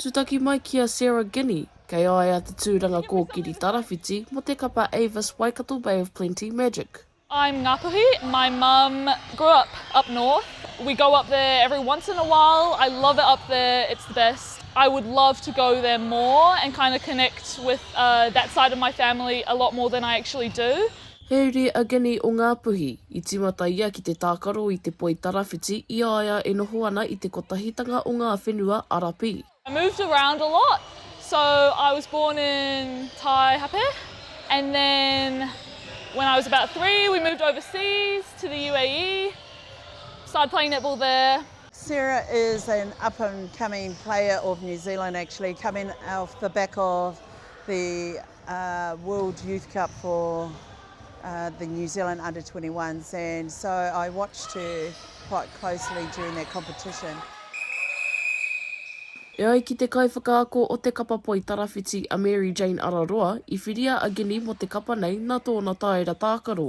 Tūtaki mai ki a Sarah Guiney, kei a ia te tūranga kōkiri tarawhiti mō te kapa Avis Waikato Bay of Plenty Magic. I'm Ngāpuhi, my mum grew up up north, we go up there every once in a while, I love it up there, it's the best, I would love to go there more and kind of connect with that side of my family a lot more than I actually do. He uri a Ginny o Ngāpuhi. I tīmata ia ki te tākaro i te poi tarawhiti i a ia e noho ana i te kotahitanga o ngā whenua Arapi. I moved around a lot, so I was born in Taihape and then when I was about three we moved overseas to the UAE, started playing netball there. Sarah is an up and coming player of New Zealand actually coming off the back of the World Youth Cup for the New Zealand Under 21s and so I watched her quite closely during that competition. E ai ki te kaiwhakaako o te kapa poi tarawhiti a Mary Jane Araroa, i whiria a Ginny mō te kapa nei nā tōna tāera tākaro.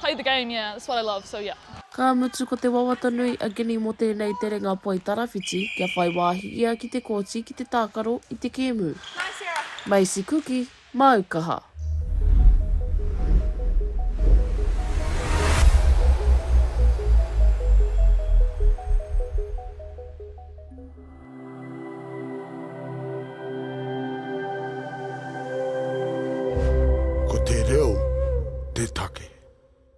Play the game, yeah, that's what I love, so yeah. Ka mutu ko te wawata nui a Gini mō tēnei terenga poi tarawhiti kia whai wāhi ia ki te kōti ki te tākaro i te kēmu. Macy Kuki, māu kaha. Ko te reo te take.